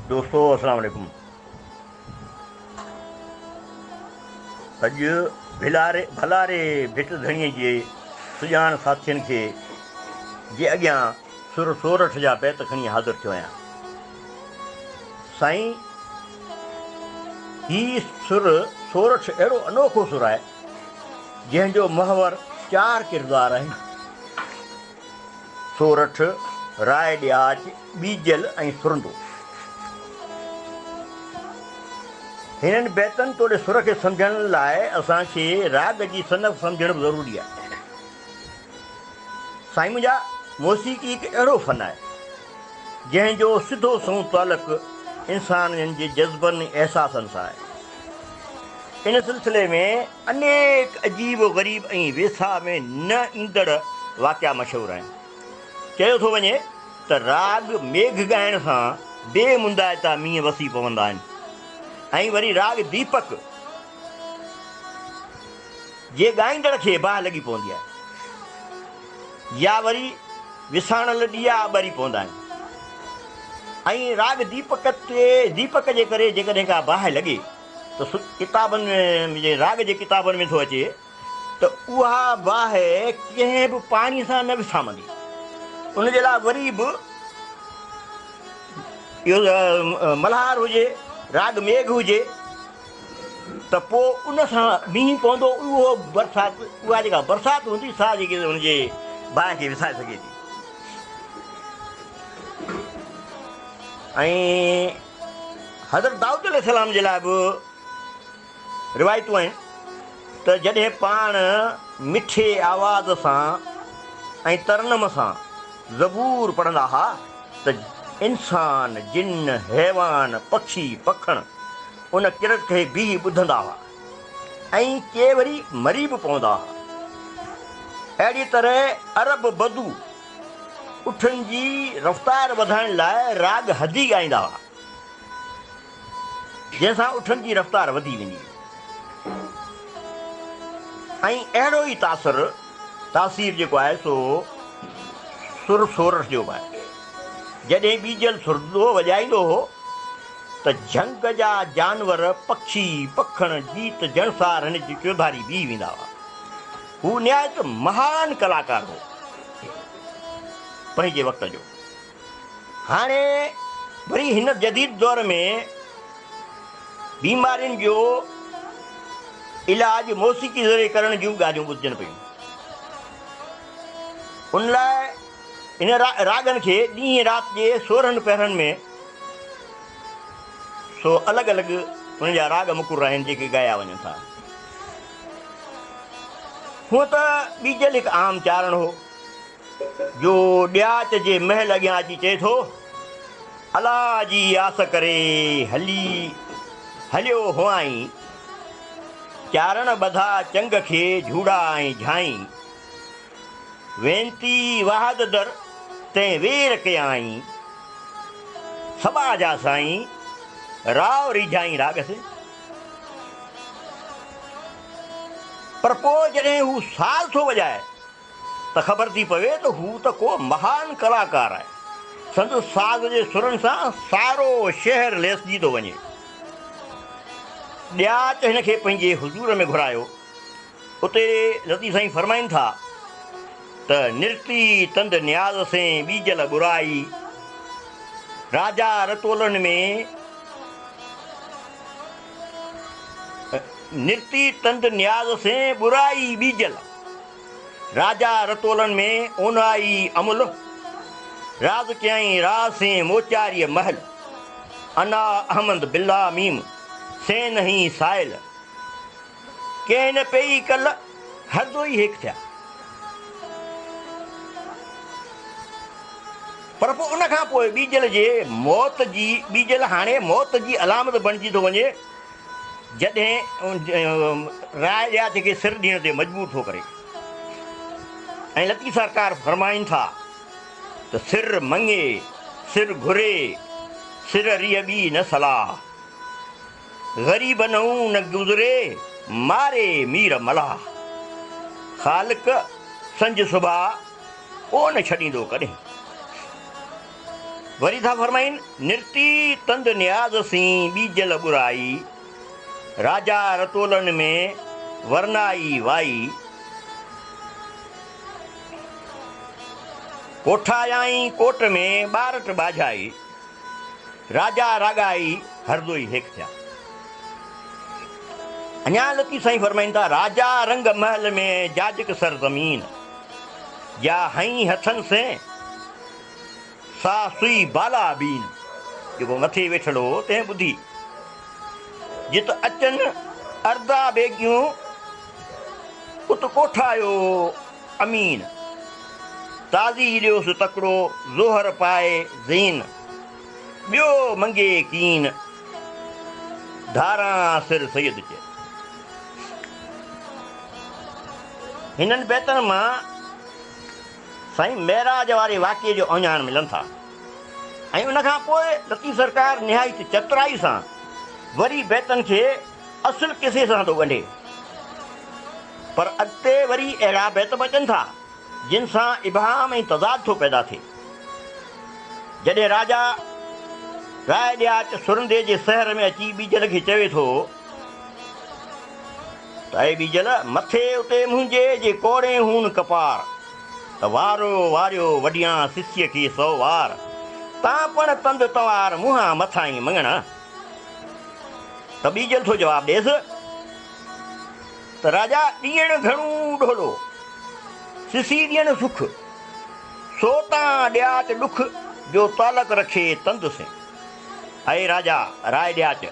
دوستو السلام عليڪم اڄ ڀلاري ڀلاري ڀٽ ڌڻي جي سڄاڻ ساٿين کي جي اڳيان سر سورٺ جا بيت کڻي حاضر ٿيو آهيان سائين هي سر سورٺ اهڙو انوکو سر آهي جنهن جو محور چار ڪردار آهن، سورٺ، راء ڏياچ، ٻيجل ۽ سرندو. هنن بيتن توڙي سر کي سمجهڻ لاء اسان کي راڳ جي صنف سمجهڻ به ضروري آهي. سائين منهنجا موسيقي هڪ اهڙو فن آهي، جنهن جو سڌو سنئون تعلق انسانن جي جذبن ۽ احساسن سان آهي. ان سلسلي ۾ انيڪ عجيب و غريب ۽ ويساهه ۾ نه ايندڙ واقعا مشهور آهن. چيو ٿو وڃي ته راڳ ميگهه ڳائڻ سان بي مندائتا مينهن وسي پوندا آهن ۽ وري راڳ ديپڪ، جي ڳائيندڙ کي باهه لڳي پوندي آهي يا وري وساڻل ڏيئا ٻري پوندا آهن ۽ راڳ ديپڪ تي ديپڪ جي ڪري جيڪڏهن ڪا باهه لڳي ته سو ڪتابن ۾ راڳ جي ڪتابن ۾ ٿو اچي ته اها باهه ڪنهن به پاڻي سان نه وسامندي ان جي لاء وري به ملهار هجي راڳ ميگهه هجي ته پوء ان سان مينهن پوندو اهو برسات اها جيڪا برسات هوندي سا جيڪي ان جي باهه کي وسائي سگهي ٿي ۽ حضرت دائود عليه السلام جي لاء به روايتون آهن ته جڏهن پاڻ مٺي آواز سان ۽ ترنم سان زبور پڙهندا ها ته انسان، جن، حيوان، پکي، پکڻ ان ڪرت کي بيهي ٻڌندا ها ۽ ڪي وري مري به پوندا ها. اهڙيء طرح عرب بدو اٺن جي رفتار وڌائڻ لاء راڳ حدي ڳائيندا ها. جنهن سان اٺن جي رفتار وڌي وڃي ۽ اهڙو ئي تاثر، تاثير، جيڪو آهي سو سر سورٺ جو به آهي. جڏهن ٻيجل سر ڏوهه وڄائيندو هو ته جهنگ جا جانور، پکي، پکڻ، جيت جڻسار هن جي چوڌاري بيهي ويندا هئا. هو نهايت مهان ڪلاڪار هو پنهنجي وقت جو. هاڻي وري هن جديد دور ۾ بيمارين جو علاج موسيقي ذريعي ڪرڻ جون ڳالهيون ٻڌجن پيون. ان لاء ان راڳن کي ڏينهن رات جي سورهن پهرن ۾ سو الڳ الڳ ان جا راڳ مقرر آهن جيڪي ڳايا وڃن ٿا. هونء ته ٻيجل هڪ عام چارڻ هو. جو ڏياچ جي محل اڳيان اچي چئي ٿو، الا جي آس ڪري هلي هليو هئائين، چارڻ ٻڌا چنگ کي جهوڙا ۽ جهائين، وينتي وحد در تين وير ڪيائين، سٻا جا سائين راء ريجهائين راڳ سين. پر پوء جڏهن هو ساز ٿو وڄائي. ته خبر ٿي پوي ته هو ته ڪو مهان ڪلاڪار آهي. سندس ساز جي سرن سان سارو شهر ليسجي ٿو وڃي. ڏياچ هن کي پنهنجي حضور ۾ گهرايو. اتي لطيف سائين فرمائين ٿا ته نرتي تند نياز سين ٻيجل ٻرائي، راجا رتولن ۾، نرتي تند نياز سين ٻرائي ٻيجل. راجا رتولن ۾ اونهائي امل، راز ڪيائين راز سين موچاريء مهل. انا احمد بالله ميم سين نهين سائل، ڪنهن نه پيئي ڪل هر دوئي هيڪ ٿيا. پر پوء ان کان پوء ٻيجل جي موت جي ٻيجل هاڻي موت جي علامت بڻجي ٿو وڃي جڏهن راء ڏياتي کي سر ڏيڻ تي مجبور ٿو ڪري ۽ لطيف سرڪار فرمائين ٿا ته سر مڱي سر گهري سر ريء ٻي نه صلاح غريب نئون نه گذري ماري مير ملاح خالق سنج سڀاء ڪو نه ڇڏيندو ڪڏهن. وري ٿا فرمائين، نرتي تند نياز سين ٻيجل ٻرائي، راجا رتولن ۾ ورنائي وائي، ڪوٺايائين ڪوٽ ۾ ٻارٽ ٻاجهائي، راجا راڳائي هرزوئي هيڪ ٿيا. اڃا لطيف سائين فرمائين ٿا، راجا رنگ محل ۾ جاجڪ سر زمين، جا هئين هٿن سين، سا سئي بالا بين، جيڪو مٿي ويٺل هو، تنهن ٻڌي، جت اچن اردا بيگيون، ات ڪوٺايو امين، تازي ڏيوس تڪڙو زوهر پائي زين، ٻيو منگي ڪين، ڌاران سر سيد چئي. هنن بيتن مان. سائين معراج واري واقعي جو اوهڃاڻ ملن ٿا ۽ ان کان پوء لطيف سرڪار نهايت چترائي سان وري بيتن کي اصل قصي سان ٿو ڳنڍي پر اڳتي وري اهڙا بيت به اچن ٿا جن سان ابهام ۽ تضاد ٿو پيدا ٿئي جڏهن راجا راء ڏياچ سرندي جي سحر ۾ اچي ٻيجل کي چوي ٿو. تائي ٻيجل مٿي اتي منهنجي جي ڪوڙين هون ڪپار ته وارو واريو وڍيان سسيء کي سو وار تان پڻ تند تنوار منهان مٿائين مڱڻا ته ٻيجل ٿو جواب ڏيس ته راجا ڏيڻ گهڻو ڍولو سسي ڏين سک سو تان ڏياچ ڏک جو تعلق رکي تند سين اي راجا راء ڏياچ.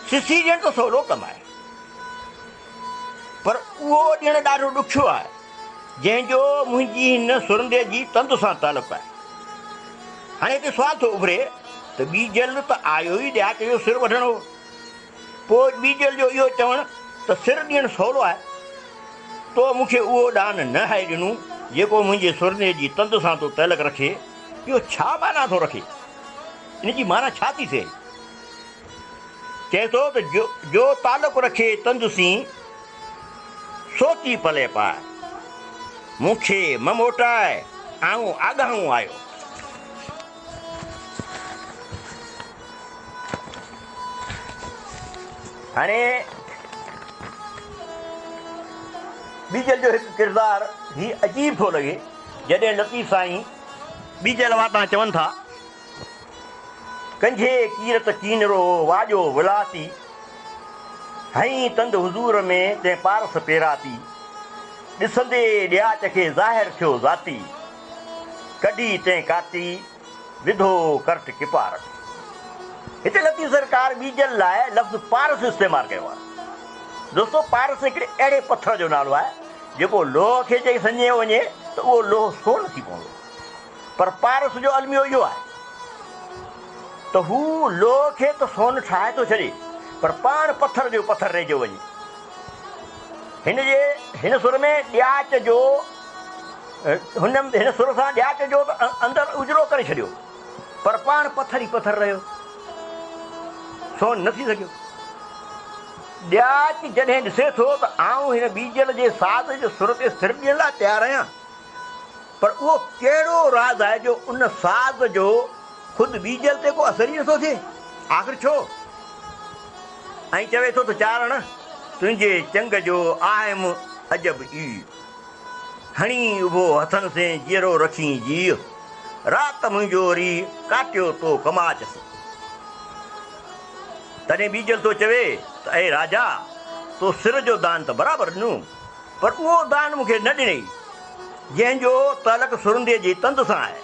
سسي ڏيڻ ته سولو ڪم آهي پر اهو ڏيڻ ڏاڍو ڏکيو آهي جنهن جو منهنجي هن سرندي جي تند سان تعلق آهي. هاڻي هتي سوال ٿو اڀري ته ٻي جلد ته آيو ئي ڏياچ جو سر وڍڻ هو پوء ٻي جلد جو اهو چوڻ ته سر ڏيڻ سولو آهي تو مون کي اهو ڏان نه هائي ڏنو جيڪو منهنجي سرندي جي تند سان تو تعلق رکي اهو ڇا معنيٰ ٿو رکي ان جي معنيٰ ڇا ٿي ٿئي. چئي ٿو ته جو تعلق رکي تنج سين، سوچي پلئه پاء. مون کي مه موٽاء، آئون آڳاهون آيو. هاڻي ٻيجل جو هڪ ڪردار هي عجيب ٿو لڳي، جڏهن لطيف سائين ٻيجل واتان چون ٿا. ڪنجهي ڪيرت ڪينرو واڄو ولاٿي، هنئين تند حضور ۾ تنهن پارس پيراٿي، ڏسندي ڏياچ کي ظاهر ٿيو ذاتي، ڪڍي تنهن ڪاتي وڌو ڪرٽ ڪپارس. هتي لطيف سرڪار ٻيجل لاء لفظ پارس استعمال ڪيو آهي. دوستو پارس هڪڙي اهڙي پٿر جو نالو آهي جيڪو لوهه کي جي سڃيو وڃي ته اهو لوهه سون ٿي پوندو. پر پارس جو الميو اهو آهي ته هو لوهه کي ته سون ٺاهي ٿو ڇڏي پر پاڻ پٿر جو پٿر رهجيو وڃي. هن جي هن سر ۾ ڏياچ جو هن هن سر سان ڏياچ جو ته اندر اجرو ڪري ڇڏيو پر پاڻ پٿر ئي پٿر رهيو سون نه ٿي سگهيو. ڏياچ جڏهن ڏسي ٿو ته آئون هن ٻيجل جي ساز جو سر تي سر ڏيڻ لاء تيار آهيان پر اهو ڪهڙو راز آهي جو ان ساز جو خود ٻيجل تي ڪو اثر ئي نٿو ٿئي؟ آخر ڇو؟ ائين چوي ٿو ته چارڻ تنهنجي چنگ جو آهيم عجب ئي. هڻي اڀو هٿن سين جيئرو رکين جيء، رات منهنجو ري ڪاٽيو تو ڪماچ سين. تڏهن ٻيجل ٿو چوي ته اي راجا! تو سر جو دان ته برابر ڏنو. پر اهو دان مون کي نه ڏنئي، جنهن جو تعلق سرنديء جي تند سان آهي.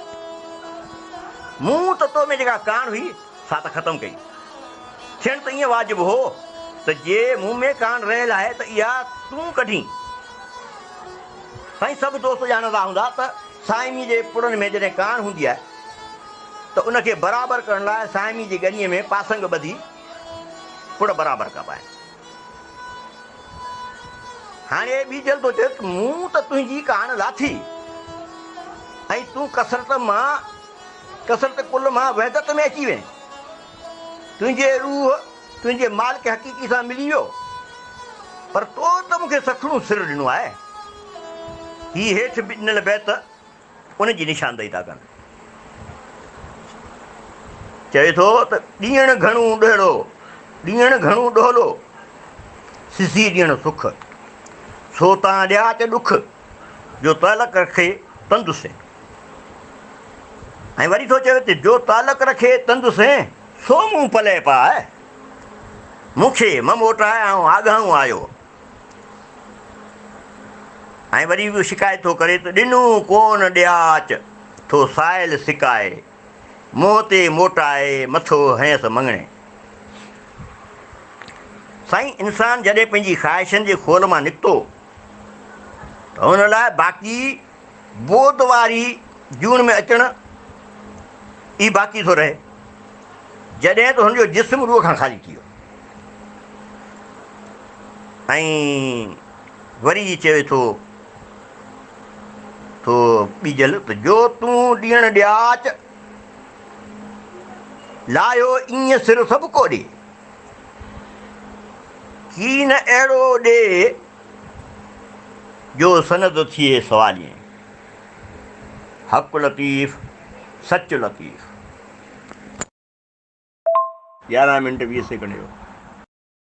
مون ته تو ۾ جيڪا ڪاڻ هئي، سا ته ختم ڪئي. ٿيڻ ته ائين واجب هو ته جي مون ۾ ڪاڻ رهيل آهي ته اها تون ڪڍين. سائين سڀ دوست ڄاڻندا هوندا ته صائميء جي پڙن ۾ جڏهن ڪاڻ هوندي آهي ته ان کي برابر ڪرڻ لاء صائميء جي ڳنيء ۾ پاسنگ ٻڌي پڙ برابر ڪبا آهن. هاڻي اي ٻيجل ٿو چوي ته مون ته تنهنجي ڪاڻ لاٿي ۽ تون ڪثرت مان ڪثرت ڪل مان وحدت ۾ اچي وئين تنهنجي روح تنهنجي مالڪ حقيقي سان ملي ويو پر تو ته مون کي سکڻو سر ڏنو آهي هي هيٺ ڏنل بيت ان جي نشاندهي ٿا ڪن. چوي ٿو ته ڏيڻ گهڻو ڏهڙو، ڏيڻ گهڻو ڏهلو، سڌي ڏيڻ سک، سو تان ڏياچ ڏک، جو تعلق رکي تند سين. ۽ وري ٿو چوي ته جو تعلق رکي تند سين، سو مون پلئه پاء، مون کي مه موٽاء آئون آگهڻو آيو. ۽ وري به شڪايت ٿو ڪري ته ڏنو ڪون ڏياچ ٿو سائل سڪائي، منهن تي موٽائي مٿو هنئس مڱڻي. سائين انسان جڏهن پنهنجي خواهشن جي خول مان نڪتو ته ان لاء باقي بود واري جون ۾ اچڻ ئي باقي ٿو رهي، جڏهن ته هن جو جسم روح کان خالي ٿي ويو ۽ وري ئي چوي ٿو ٿو ٻيجل ته جو تون ڏيڻ ڏياچ لاهيو ايئن سر سڀڪو ڏي، ڪي نه اهڙو ڏي جو سند ٿئي سوالين، حق لطيف سچ لطيف. يارهن منٽ ويهه سيڪنڊ جو.